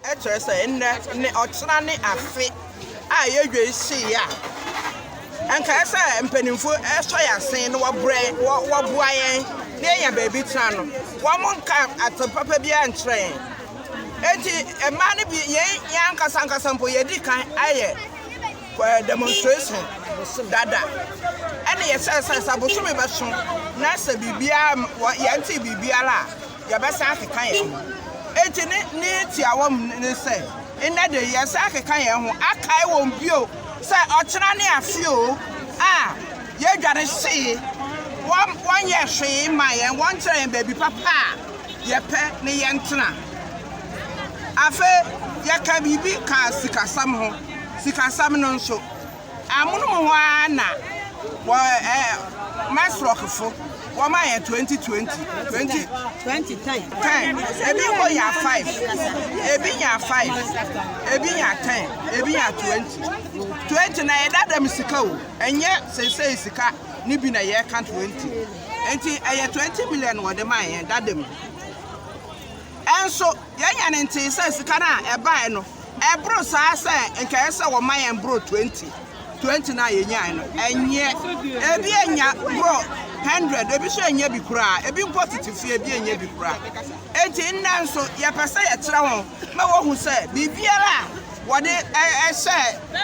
Kyerɛ sɛ, nnɛ ne ɔkyena ne afe a ɛyɛ dwei hye yi a, anka ɛyɛ sɛ mpaninfoɔ sɔ yɛn asen na wɔbrɛ, wɔ, wɔboa yɛn na yɛnya baabi tena no. Wɔn nka asɛm papa biara nkyerɛ yɛn. Enti mmaa no bi, yɛn, yɛn ankasa ankasa mpo, yɛadi kan ayɛ eh, demonstration dada. Ɛne yɛhyɛɛ sɛ sɛ bosome bɛso na sɛ biribiara, wɔ, yɛntee biribiara a, yɛbɛsan akeka yɛn ho. Enti ne ne tiawa mu ne sɛ, Nnɛ de, yɛresan akeka yɛn ho akae wɔn bio sɛ ɔkyena ne afe oo a yɛadware see wɔn, wɔnyɛɛ hwee mmaa yɛn, wɔnkyerɛɛ yɛn baabi papa a yɛpɛ ne yɛntena. Afei yɛka biribi kaa sikasɛm ho. Sikasɛm no nso, Amonom hɔ ara na wɔ ɛɛ mass rock fo wɔn ayɛ twenty twenty twenty twenty ten ten ebi nkɔ nya five ebi nya five ebi nya ten ebi nya twenty twenty na yɛ dada mu sika o ɛnyɛ sɛsɛyi sika ne bi na yɛ ka twenty nti ɛyɛ twenty million wɔde maa yɛn dada mu ɛnso yɛn nya ne ntee sɛ sika no a ɛbae no. Ɛboro saa sɛ nka ɛyɛ sɛ wɔma yɛn boro 20, 20 no a yɛnyae no. Ɛnyɛ. Ebi anya boro 100, ebi nso annya bi koraa, ebi mpo tete fie, ebi annya bi koraa. Enti nnɛ nso, yɛpɛ sɛ yɛkyerɛ wɔn ma wɔhu sɛ biribiara a wɔde hyɛ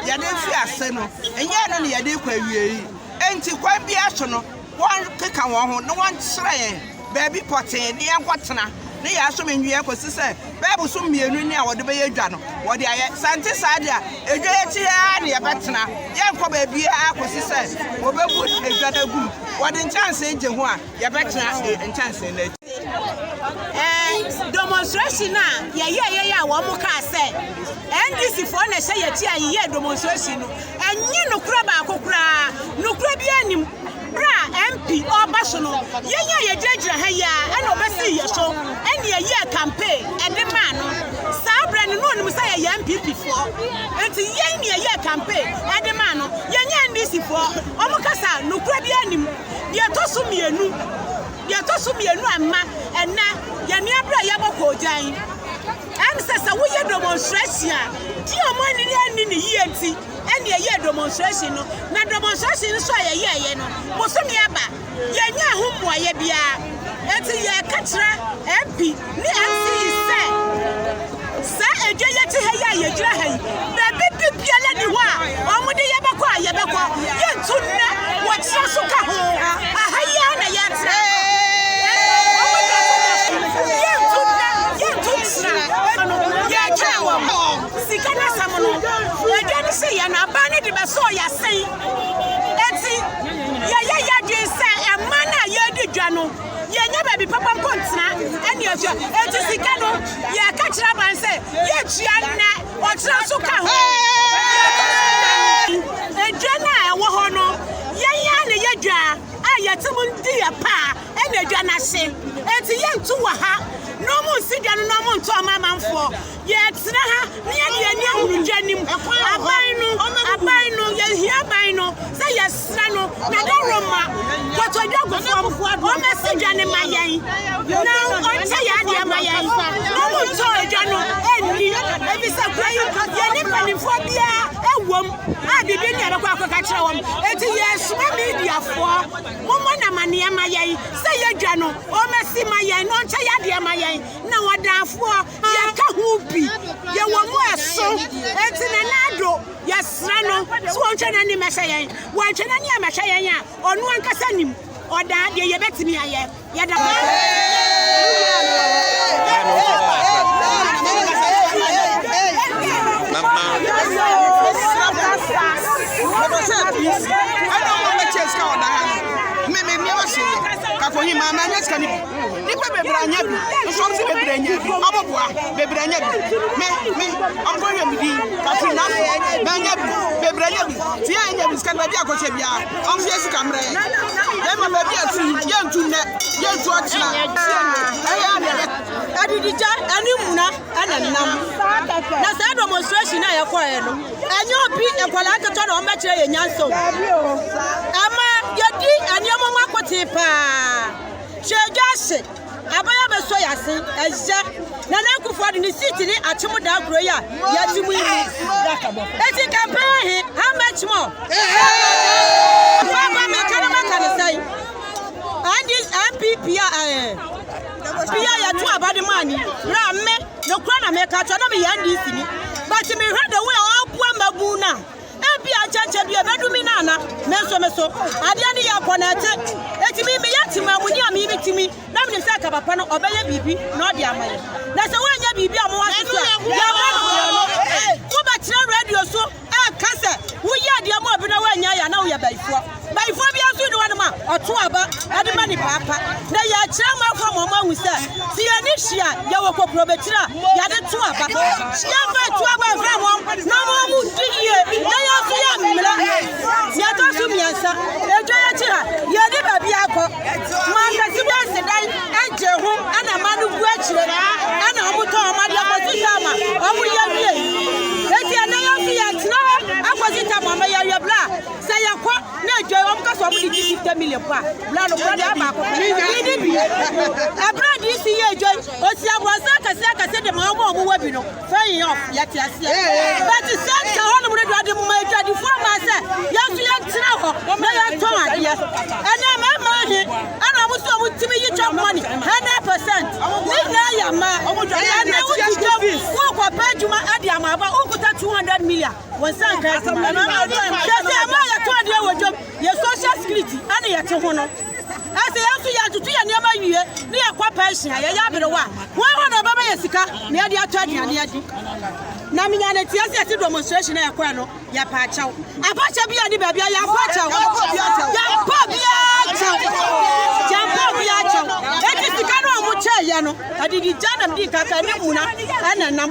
yɛn den fii ase no, ɛnyɛ ɛno na yɛde rekɔ awiei. Enti kwan biara so no, wɔkeka wɔn ho na wɔkyerɛ yɛn baabi pɔtee ne yɛnkɔtena ne yɛasom nnua kɔsi sɛ bɛɛbo so mmienu ne a wɔde bɛyɛ dwa no wɔde ayɛ. Sɛ ɛnte saa de a, edwa yi akyi ara na yɛbɛtena, yɛrenkɔ baabiara kɔsi sɛ wɔbɛbu edwa no agu mu. Wɔde nkyɛnsee gye ho a, yɛbɛtena nkyɛnsee no akyi. Ɛɛ demonstration a yɛyɛ yɛyɛ a wɔn kaa sɛ NDC foɔ na ɛhyɛ yɛkyi a yɛyɛ demonstration no ɛnyɛ nokorɛ baako koraa nokorɛ bi anim berɛ a MP ɔba so no yɛn a yɛgyinagyina ha yi a ɛna ɔbɛsii yɛ so ɛne yɛyɛ campaign ɛde maa no saa berɛ no na ɔnim sɛ yɛyɛ NPP foɔ nti yɛn ne yɛyɛ campaign ɛde maa no yɛnyɛ NDC foɔ wɔn kasa nokorɛ bi anim deɛ ɛtɔ so mmienu Deɛ ɛtɔ so mmienu a mma ɛnɛ yɛn nuabere a yɛabɔ koogyan ɛne sɛ sɛ woyɛ demonstration a di ɔmo ani anni ne yie nti ɛne ɛyɛ demonstration no na demonstration nso a yɛyɛɛyɛ no bosome aba yɛnyɛ ho mmuayɛ biara ɛti yɛka kyerɛ MP Ne ase yi sɛ, saa edwa yi akyi ha yi a yɛgyina ha yi, baabi bibiara ni hɔ a wɔde yɛbɛkɔ a yɛbɛkɔ, yɛntu nnɛ, wɔkyerɛ so ka ho, aha yi ara na yɛtra. Yɛntu nnɛ, yɛntu ntra, yɛkyɛɛ wɔn. Sika no asɛm no, edwa no hyee yɛn, aban no de bɛsɔɔ yɛn asen, enti yɛyɛ yɛn adwene sɛ mmaa no a yɛredi dwa no, Yɛnyɛ baabi papa mpo ntena ɛne atua. Enti sika no, yɛka kyerɛ aban sɛ yɛtua nnɛ, ɔkyena nso ka ho. Edwa no a ɛwɔ hɔ no, yɛn ara na yɛ dwa a yɛte mu di yɛ paa ɛne edwa no ase. Enti yɛnto wɔ ha na wɔnsi dwa no na wɔnto ama amanfoɔ. Yɛtena ha na yɛde yɛn ani ahunu dwa no mu. Aban no, aban no, yɛhia aban no sɛ yɛsrɛ no na ne roma pɔtɔ dwa gu fam. Ɔmmɛsi dwa no ma yɛn na ɔnkyɛ yɛn adeɛ ma yɛn na ɔmo ntɔ dwa no nni. Ebisa kura yi yɛne mpanimfoɔ biara ɛwom a biribi ne yɛbɛkɔ akɔka kyerɛ wɔn. Eti yɛsoma mediafoɔ mommɔ namaneɛ ma yɛn sɛ yɛdwa no ɔmmɛsi ma yɛn na ɔnkyɛ yɛn adeɛ ma yɛn na wɔdanfoɔ Yɛka ho bi, yɛwɔ mu ɛso, enti Nenado yɛsrɛ no sɛ ɔntwa n'ani mɛhwɛ yɛn. Wantwa n'ani ammɛhwɛ yɛn a, ɔno ankasa nim. Ɔdaa deɛ yɛbɛtumi ayɛ. Yɛda mo ase. Nipa bebree anya bi, nso ɔmo si bebree anya bi, ɔmo boa, bebree anya bi. Me, me, ɔmo kɔ yɛ me di, Katrin Nase, me anya bi, bebree anya bi. Ti yɛ anya bi, sika no baabi a kɔhyɛ bia, ɔmo si yɛ sika mmerɛ yɛ. Bɛma baabi a si, yɛ ntu nnɛ, yɛ ntu ɔkyena, si yɛ ntu, ɛyɛ a na yɛ. Adidija ɛne mmuna ɛna ɛnam, na saa demonstration a yɛ kɔ yɛ no, ɛnyɛ obi nkwadaa nketewa na ɔmo bɛ kyerɛ yɛ nyansa o, ɛma yɛ di ɛneɛma ɔmo akotee paa. Kyerɛdwase, aban a bɛsɔ yɛ ase ɛyɛ Nana Akufo Addo ne seat ne akyem daa kuro yi a yɛte mu yi mu. Eti campaign ahe? How much more? Papa me ka no mɛka ne sɛn? Andi NPP a ɛɛ bi a yɛto aba de maa ni berɛ a me nokora na meka kyerɛ na meyɛ NDC ni but mehwɛ the way a ɔboa mmabu no a Ebia nkyɛnkyɛn bi ebedu me na ana, nanso me so. Adeɛ no yɛ akɔ na ɛte. Etumi meyɛ temaamuni a me yere tumi, na menim sɛ kaba pa no, ɔbɛyɛ biribi na ɔde ama yɛn. Na sɛ wanyɛ biribi a mowɔ asesu a, yɛmmɔ no korɔno. Wobɛkyerɛ radio so reka sɛ woyɛɛ adeɛ ma obi na wannyae anaa woyɛ bayifoɔ. Bayifoɔ biara nso nni hɔnom a ɔto aba de ma ne paapa. Na yɛkyerɛ amanfoɔ ma wɔahu sɛ, sɛ yɛn ani hye a, yɛwɔ kokurobekyire a yɛde to aba. Yɛmfa ntu aba mfrɛ wɔn na ama wɔadi yie, na yɛn nso yɛammrɛ. Nea ɛtɔ so mmiɛnsa, edwa yi akyi ha, yɛnni baabi akɔ. Mmaa kɛse bi asi dan gyee ho na mma no gu akyire na wɔtɔn wɔn adeɛ kɔsi tam a wɔyɛ awiei. Enti ɛnnɛ yɛn nso yɛtena hɔ akɔsi tam ama yɛawie berɛ a Sɛ yɛ kɔ na adwa yi wɔn kasa wɔn de gye 50 million po a, bra no kora de a baako pɛ. Yi ne bi. Ɛbra DC yɛ adwa yi, osi abɔnsa akɛse akɛse de ma wɔn a wɔn wɔ bi no. Fɛyi yɛ ɔf, yɛ te aseɛ. Bɛti sɛ ka hɔ nom no do ade moma adwa di fo ama sɛ yɛn so yɛn tena hɔ na yɛn tɔn adeɛ. Ɛnɛ mɛ mma he, ɛna wɔn so wɔn timi yi chop money, 100%. Ne nyinaa yɛ mma. Ɛnɛ wo ti dwom, wo kɔ pɛ adwuma ɛde ama aba, wo kuta 200 million. Wɔn nsa nka adwuma no. Kyerɛ sɛ ɛma yɛtɔ adeɛ wɔ dwam, yɛ social security ɛne yɛte ho no. Ɛsɛ yɛn nso yɛtoto yɛn nneɛma wie ne yɛkɔ Persia, yɛyɛ aberewa a, wɔn hɔ na ɛbɛma yɛ sika na yɛde atɔ aduane adi. Na menya ne teɛ sɛ yɛte demonstration a yɛkɔɛ no, yɛpɛ akyɛw. Afahyɛ bi a ne baabi a yɛmpɛ akyɛw. Yɛmpɛ biara kyɛw. Yɛmpɛ obiara akyɛw. Eti sika no a wɔkyɛɛ yɛ no, adidi gya nam di nkaka ne muna ɛna nam.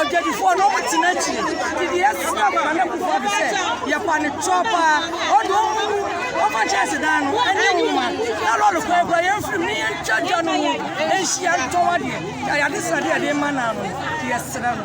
Ɔdwadifoɔ no ɔmo tena akyire didi yɛ sra ma nana kuku ado sɛ yɛ pa ne toɔ paa ɔde ɔmo mu ɔfa kyɛnse dan no ɛnyɛ nwoma na lɔre kwan kura yɛn firim ne yɛn twa dwa no mu nhyia ntɔn adeɛ yɛ ayade sradeɛ yɛde ma naa no no yɛ sra no.